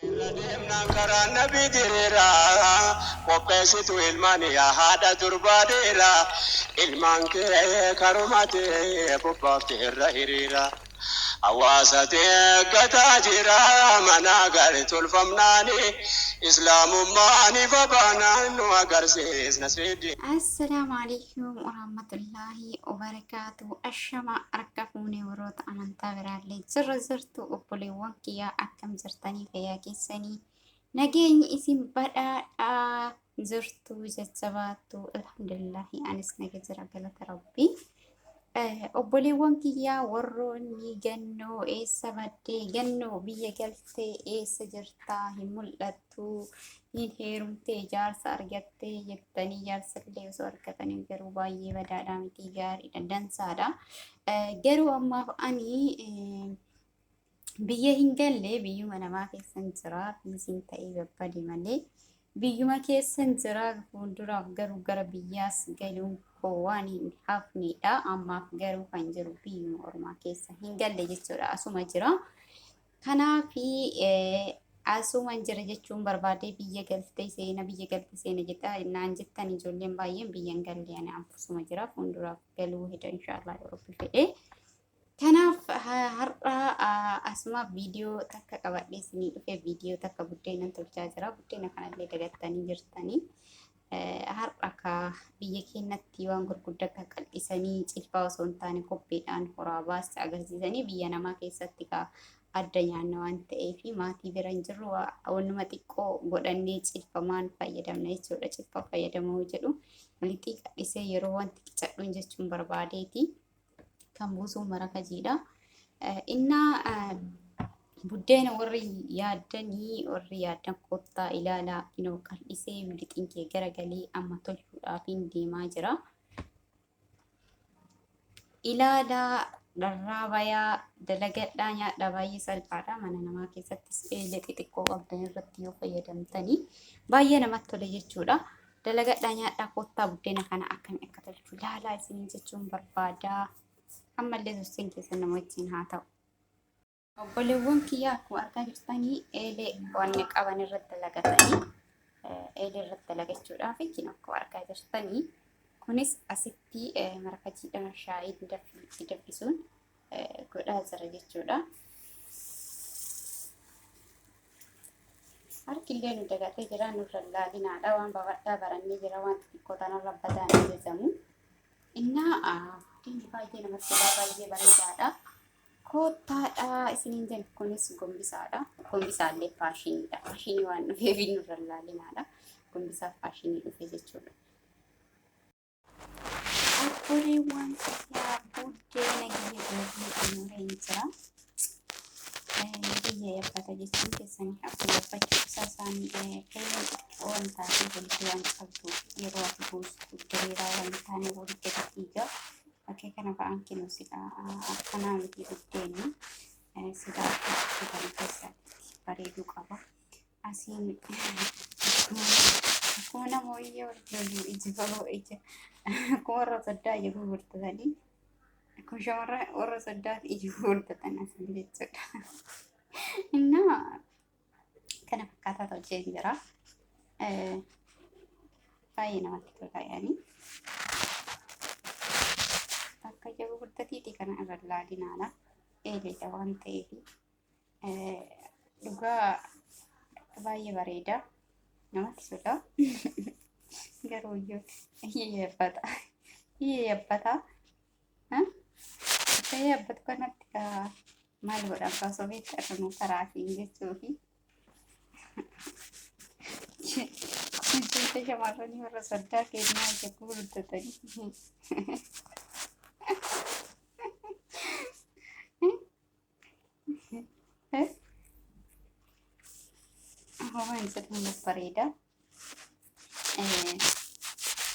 Irra deemnaan karaan nabii diriira Qopheessituu ilmaanii yaa haadha durbaa dhiira Ilmaan kee karumati bobbaafte irra hiriira Hawaasati eeggataa jira manaa gari tolfamnaani Islaamummaan ifa baanaan nu agarsiisna sii diina. Assalaamu Aleeykum Waraamatullaahi Wabarakaatuhu Ashamaa Harka fuunee warroota amantaa biraallee jirra jirtu obboleewwan kiyyaa akkam jirtanii fayyaa keessanii nageenyi isin badhaadhaa jirtu jajjabaattu alhamdulillahi anis naga jira galata rabbii Eh, obboleewwan kiyyaa warroonni gannoo eessa baddee gannoo biyya galtee eessa jirtaa hin mul'attu tuu hin heerumtee jaarsa argattee jettanii jaarsallee osoo argatanii garuu baay'ee badaadhaa miti gaariidha dansaadha. Garuu ammaaf ani biyya hin galle biyyuma namaa keessan jira fiisiin ta'ee babbade malee biyyuma keessan jira fuulduraaf garuu gara biyyaas galuun koo waan hin hafneedha ammaaf garuu kan jiru biyyuma ormaa keessa hin galle jechuudha asuma jira. Kanaafi asuuman jira jechuun barbaadee biyya galtee seena biyya galte seena jedha naan jettan ijoolleen baay'een biyyan galle ani anfusuma jira fuulduraaf galuu heda inshaallah yoo rabbi fedhe. Kanaaf har'a asumaaf viidiyoo takka qabadhee isinii dhufe viidiyoo takka buddeenan tolchaa jira buddeena kanallee dagattanii jirtanii Har'a ka biyya keenyatti waan gurguddaa akka qal'isanii cilfaa osoo hin taane kobbeedhaan horaa baasti agarsiisanii biyya namaa keessatti ka adda nyaanna waan ta'eef maatii bira hin jirru wannuma xiqqoo godhannee cilfamaan fayyadamna jechuudha. Cilfa fayyadamuu jedhu lixii qal'isee yeroo wanti qicadhuun jechuun barbaadeeti. kan buusuun marakajiidha. Innaa buddeena warri yaaddanii warri yaaddan kottaa ilaalaa inoo qal'isee milixiin kee garagalee amma tolchuudhaaf hin deemaa jira. Ilaalaa dharraa bayaa dalagadhaa nyaadhaa baay'ee salphaadha mana namaa keessattis eelee xixiqqoo qabdan irratti yoo fayyadamtanii baay'ee namatti tola jechuudha. Dalagadhaa nyaadhaa koottaa buddeena kana akkami akka tolchu laalaa isiniin jechuun barbaadaa. Ammallee turtiin keessan nama wajjin haa ta'u. Obboleewwan kiyyaa akkuma argaa jirtanii eelee wanni qaban irratti dalagatanii eelee irratti dalagachuudhaaf isin akkuma argaa jirtanii kunis asitti marakajiidhaan shaayii itti danfisuun godhaa jira jechuudha. Harkillee nu dagatee jira nurra laalinaadha waan babal'aa barannee jira waan xixiqqoo tanarra badaan ajajamu. Innaa diinni baay'ee namatti tolaa baay'ee bareedaadha. Koottaadha isiniin jenna kunis gombisaadha. Gombisaallee faashiniidha. Faashinii waan dhufeef nurra laalinaadha. Gombisaa faashinii dhufe jechuudha. Obboleewwan kiyyaa buddeena kiyya daabii xumureen jira. Biyya eebbata jechuun keessan hafu eebbachuu isaa isaanii feelan xiqqoo waan taatee walitti waan qabdu yeroo ati buustu diriiraa waan hin taane walitti gadi dhiiga. Bakkee kana ba'aan kennu sila akkanaa miti buddeenni sila akka kan keessaatti bareeduu qaba. Asiin akkuma nama wayyee walirra iji baloo ija akkuma warra saddaa ija gurgurtatanii akkuma shamarran warra saddaaf ija gurgurtatan asiin jechuudha. Innaa kana fakkaataa tolchee hin jira. Baay'ee namatti tola yaanii. Akka ija gurgurtatiiti kana irra ilaalinaadha. Eeleedha waan ta'eefi. Dhugaa baay'ee bareeda. Namatti tola. Garuu iyyuu iyyee yabbata. Iyyee yabbata. Akka yabbatu kanatti kaa maal godhan kaa osoo beektaa kanuu karaa fi jechuu fi jecha shamarranii warra soddaa kennaa jecha gurguddatanii. Waan jedhamu nuuf bareeda.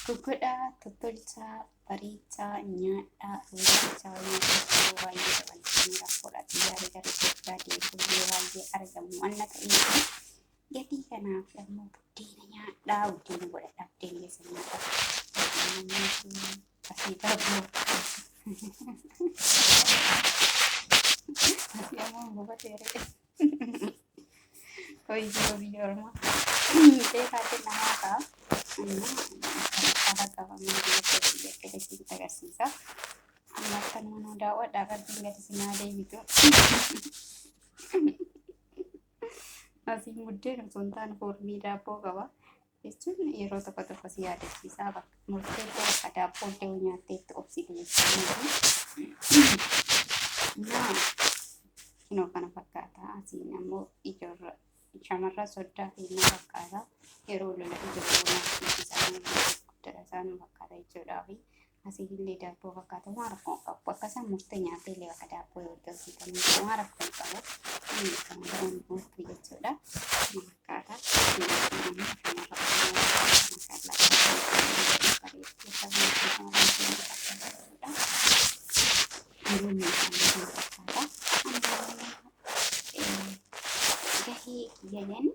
Gugudhaa, tottolchaa, bareechaa, nyaadhaa, hojjechaa, hojjechaa baay'ee dabaltanii rakkoodhaatti yaada gara Itoophiyaa deebi'uu baay'ee argamu. Anna ta'ee Gatii kanaaf ammoo buddeena nyaadhaa, buddeena godhadhaa, buddeena keessa nyaadhaa. Buddeena nyaadhaa. Asii qabuu. Asii ammoo hin bubatee re'ee. Hoyyoo biyya ormaa. Beekaa kenna haakaa. Haala qabamee biyya keessatti jettee isinitti agarsiisa. Amma akka nuunuu daawwadhaa rabbiin gadi sinaa deebitu. Asii muddeen osoo hin taane foormii daabboo qaba. Jechuun yeroo tokko tokko si yaadachiisaa bakka murtee koo bakka daabboo illee yoo nyaattee itti obsite jechuudha. Naa kinoo kana fakkaata. Asiin ammoo ijoorra shamarra soddaa fi na fakkaata. Yeroo lola ijoollee naaf dhiisisaa guddaa isaa nu fakkaata jechuudha. Asiillee daabboo fakkaata waan rakkoo hin qabu. Bakka isaan murtee nyaatee illee bakka daabboo yoo itti hojjetanii waan rakkoo hin qabu. Inni kan biraan murtuu jechuudha. Fakkaata. Gahee kiyya jedhanii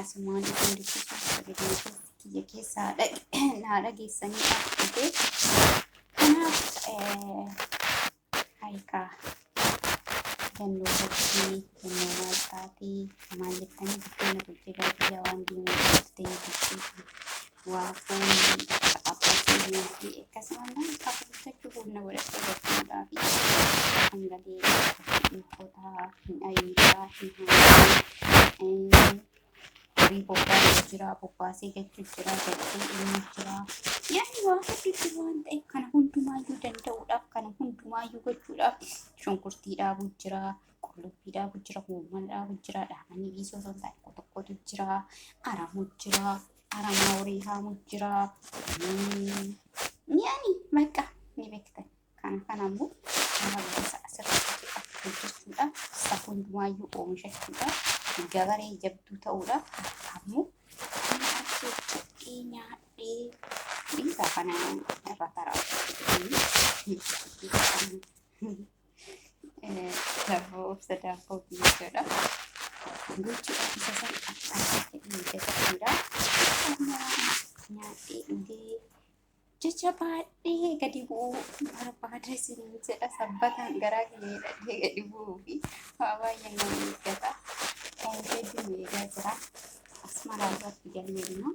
Asumaan isin dubbisuuf sagalee keessa kiyya keessa haa dhag- naa dhageessanii dhaabbatee. Kanaaf eh, harikaa jannoo fakkii jannoo maal taatee maal jettanii biddeena bulchee baadiyyaa waan deemuu jirtee bulchee Waaqoon abbaa keenya fi akkasumallee kafuuttachuu humna godhachuu barsiisaa fi hangalee ilkotaa hin ayiisaa hin haanaa horii bobbaa jira bobbaasee gachuu jira gachuu ilmi jira yaani waa hedduutti waan ta'e kana hundumaayyuu danda'uudhaaf kana hundumaayyuu gochuudhaaf shunkurtii dhaabuu jira qullubbii dhaabuu jira huumman dhaabuu jira dhaabanii dhiisuu osoo hin taane tokkotu jira aramuu jira Aramaa horii haamu jira. Mi'aani maqaa ni beektan. Kana kana immoo hawaasa asirratti hojjechuudha. Isa hundumaayyuu oomishachuudha. Gabaree jabduu ta'uudha. Ammoo kan harkee cabdee nyaadhee dhiisaa kana irra taraa. Daabboo obsa daabboo jechuudha. Gochi isa san akkanatti miidhagatuudha. Nyaadhee dhugee jecha baadhee gadi bu'uu barbaada isin jedha sabbataan garaa kiyya dhagee gadi bu'uu fi waa baay'ee nama eeggata. Kan hedduun eegaa jira. Asmaraa irratti galmee immoo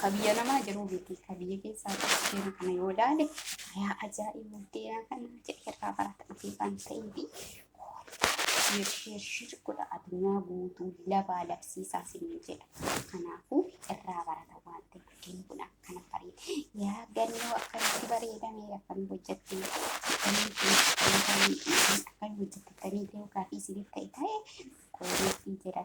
Ka biyya namaa jiruu miti. Ka biyya keessaa seena kana yoo ilaale yaa ajaa'iba deeyaa kana jedhee irraa barata dhufee waan ta'eef shir shir shir godha addunyaa guutuu labaa labsiisaa sinni jedha. Kanaafuu irraa barata waan ta'eef guddinni kun akkana bareeda. Yaa gannoo akkamitti bareedame akkamitti hojjette akkamitti hojjette akkamitti hojjette ta'ee ta'uu gaafii isiniif ta'e ta'e koomeetii jedha.